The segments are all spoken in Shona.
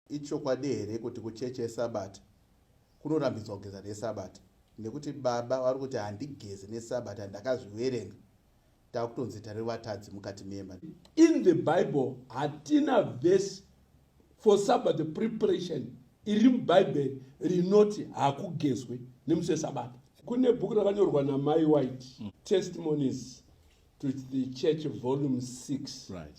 Ichokwadi here kuti kuchechi yesabata kunorambidzwa kugeza nesabata nekuti baba vari kuti handigezi nesabata ndakazviverenga takutonzi tari vatadzi mukati memba in the bible hatina vese for sabata preparation iri mubhaibheri rinoti hakugezwe nemusi wesabata kune bhuku rakanyorwa namai white mm. testimonies to the church volume 6 right.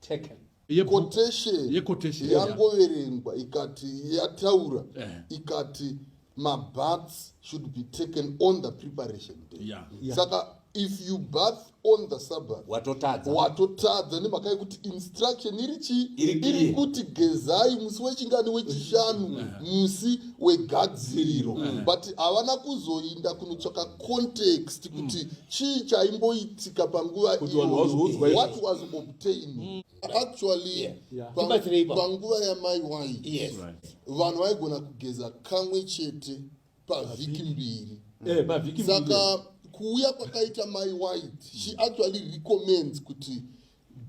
taken quotation yangoverengwa ikati yataura eh. ikati mabaths should be taken on the preparation day yeah. Yeah. saka if you bath on the sabbath watotadza watotadza nemhaka yekuti instruction iri chii iri kuti gezai musi wechingani wechishanu musi wegadziriro eh. but havana kuzoinda kunotsvaka context kuti mm. chii chaimboitika panguva iyoyowhat was obtained mm. actually yeah. Yeah. panguva yamai wai yes. vanhu vaigona kugeza kamwe chete pavhiki mbiri eh, saka kuuya kwakaita mai white she actually recommends kuti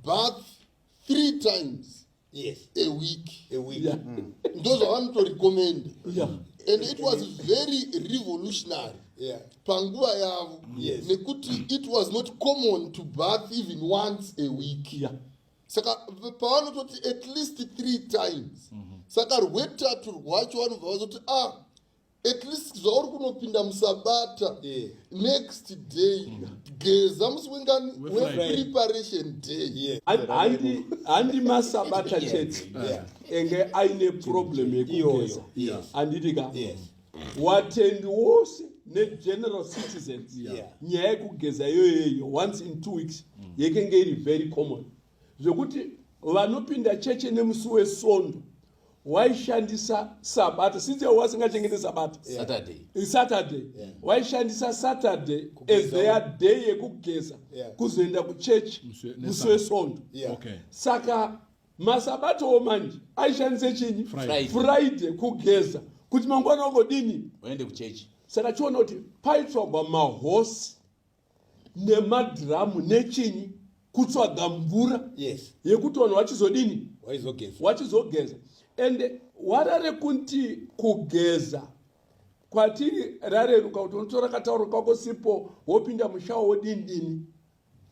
bath three times yes a week a week yeah. mm. ndozvavanotorecommenda yeah. and it was very revolutionary yeah. panguva yavo yes. nekuti it was not common to bath even once a week yeah. saka pavanototi at least three times mm -hmm. saka rwetatu rwacho vanobva vazoti ah at least zvauri kunopinda musabata yeah. next day mm. geza musi wengani wepreparation day handi masabata chete enge aine problem yekugeza handiti ka watendi wose negeneral citizens nyaya yekugeza iyoyoyo once in two weeks mm. yekenge iri very common zvekuti vanopinda cheche nemusi wesondo waishandisa sabata since wasingachengete sabata saturday waishandisa saturday as their day yekugeza kuzoenda kuchechi musi wesondo saka masabatowo manje aishandise chinyi friday kugeza kuti mangwana ugodini saka chiona kuti paitsvagwa mahosi nemadhiramu nechinyi kutsvaga mvura yes. yekuti vanhu vachizodini wachizogeza and wara rekunti kugeza kwatiri rareruka kuti unotora katauro kako sipo wopinda mushawo wodini dini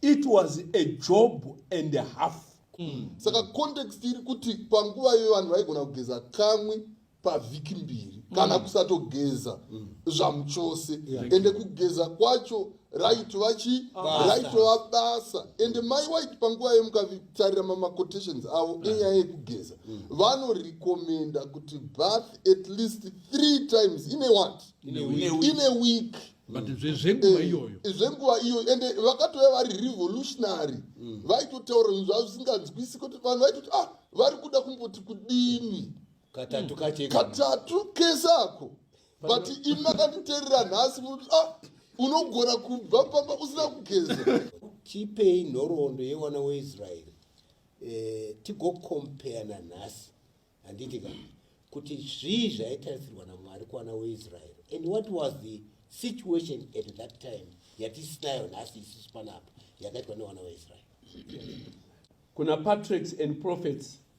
it was a job and a half mm. saka context iri kuti panguva iyoyo vanhu vaigona kugeza kamwe pavhiki mbiri mm. kana kusatogeza mm. zvamuchose yeah. ende kugeza kwacho raitova chi raitova basa ende mai waiti panguva yemukatarira mamacotations avo mm. enyaya yekugeza mm. vanorekomenda mm. kuti bath at least three times ine wat ine week but mm. zvenguva eh, iyoyo zvenguva iyoyo ende vakatouya vari revolutionary mm. vaitotaura zvinhu zvavo zvisinganzwisi kuti vanhu vaitoti ah vari kuda kumboti kudini katatu kache katatu kese ako but imi makanditerera nhasi muti ah unogona kubva pamba usina kugeza tipei nhoroondo yewana weisraeri eh, tigokompea nanhasi handiti ka kuti zvii zvaitarisirwa namwari kuwana weisraeri and what was the situation at that time yatisinayo nhasi isisu panapa yakaitwa newana weisraeri kuna patriarchs and prophets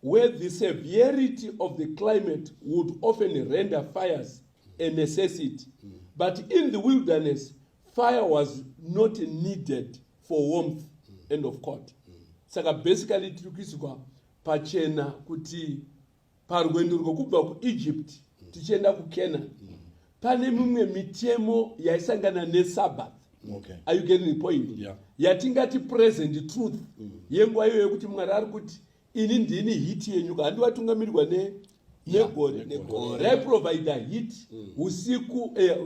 where the severity of the climate would often render fires a necessity. But in the wilderness, fire was not needed for warmth. End of quote. Saka basically tiri kuiswa pachena kuti parwendo rwekubva kuEgypt tichienda kuCanaan pane mimwe mitemo yaisangana nesabbath okay. are you getting the point yeah. yatingati present truth mm. yenguva iyoyo yekuti mwari ari kuti ini ndini hiti yenyuka handivatungamirirwa ne negore negore raiprovider hit mm. usiku eh,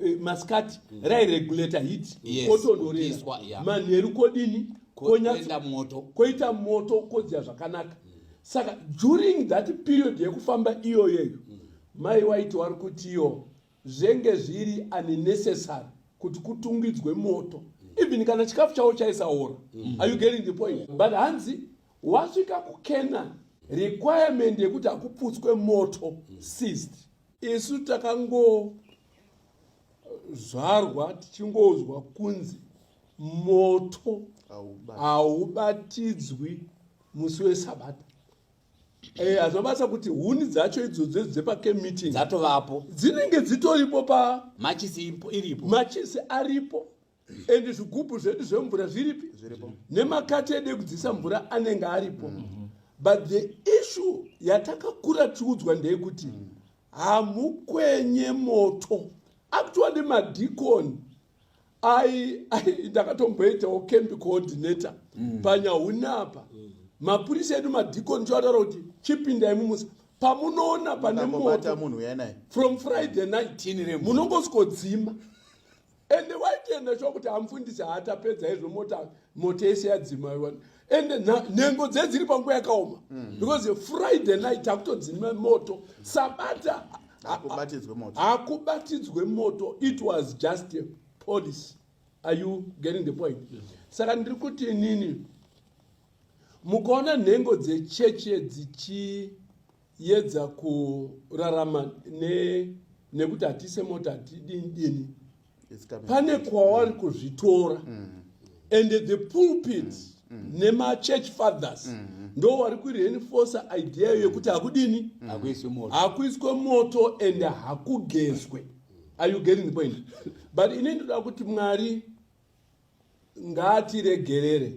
eh, masikati mm. rairegulator hit kotonhorerwa manheru kodini koenda moto koita moto kodziya zvakanaka mm. saka during that period yekufamba iyoyeyo Mai waiti wari kutiyo zvenge zviri unnecessary kuti kutungidzwe moto even kana chikafu chavo chaisaora mm. are you getting the point but hanzi wasvika kucanaan requirement yekuti hakuputswe moto seized isu takangozvarwa tichingonzwa kunzi moto haubatidzwi musi wesabata Eh, hazvina basa kuti huni dzacho idzodzo dzepacamp meeting dzatovapo dzinenge dzitoripo pa machisi ipo- iripo machisi aripo and zvigubhu zvedu zvemvura zviripi Zviripo. nemakati edu ekudzisa mvura anenge aripo but the issue yatakakura tiudzwa ndeyekuti hamukwenye moto actually madicon ai ai ndakatomboitawo camp coordinator mm. panyahuni apa mm. mapurisa edu madhikoni choataura kuti chipindai mumusa pamunoona pane moto munhu uya naye from friday night munongosikodzima ende waitoenda sho kuti hamufundisi haatapedza izvo mota moto yese yadzima ende nhengo dzedziri panguva yakaoma mm. because friday night hakutonzi moto sabata hakubatidzwe moto it was just a policy are you getting the point saka ndiri kuti inini mukaona nhengo dzecheche dzichi yedza kurarama ne nekuti hatise mota hatidini dini pane kwawari kuzvitora mm. and the pulpit mm. Mm. nemachurch fathers mm. ndo wari kureinforce idea mm. yekuti hakudini mm. hakuiswe moto and hakugezwe are you getting the point but ine ndoda kuti mwari ngaatiregerere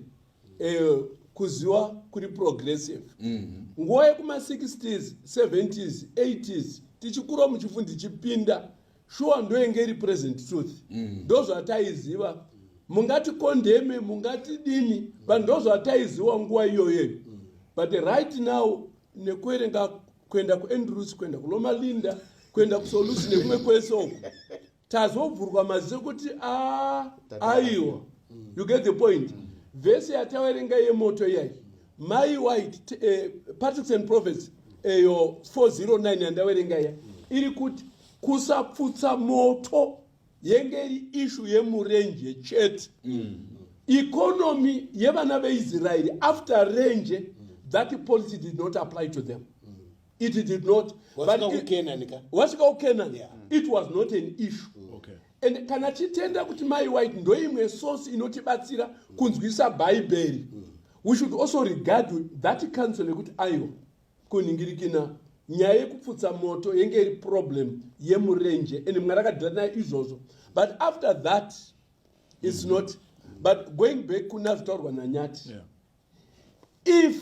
eh, kuziwa kuri progressive mhm. nguva mm -hmm. yekuma 60s 70s 80s tichikura muchifu ndichipinda shuwa ndoyenge iri present truth mm. ndozvataiziva mm. mungati kondeme mungati dini but ndozvataiziwa nguva iyoyoyo but right now nekuerenga kuenda kuandrews kuenda kulomalinda kuenda kusolusi nekumwe kwese uku tazovhurwa maziso kuti a ah, aiwa mm. you get the point mm. vhesi yataverenga yemoto iyai mai white eh, patrics and prophets eyo eh, 409 yandaverenga iya mm. iri kuti kusapfutsa moto yenge iri ishu yemurenje chete mm. economy yevana veisraeri after renje mm. that policy did not apply to them mm. it did not wasvika kukenan ka wasvika kukenan yeah. it was not an issue mm. okay. and kana titenda kuti mai white ndoimwe source inotibatsira mm. kunzwisa bhaibheri mm. we should also regard that council yekuti aiwa kuningirikina nyaya yekupfutsa moto yenge iri problem yemurenje and mwari akadhira naye izvozvo but after that its mm. not but going back kuna zvitaurwa nanyati yeah. if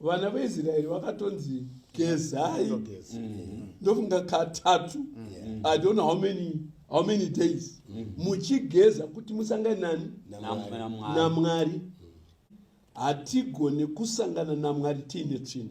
vana veisraeri vakatonzi gezai mm-hmm. ndofunga katatu mm-hmm. i don't know how many how many days mm-hmm. muchigeza kuti musangane nani namwari hatigone kusangana namwari tiine tsvina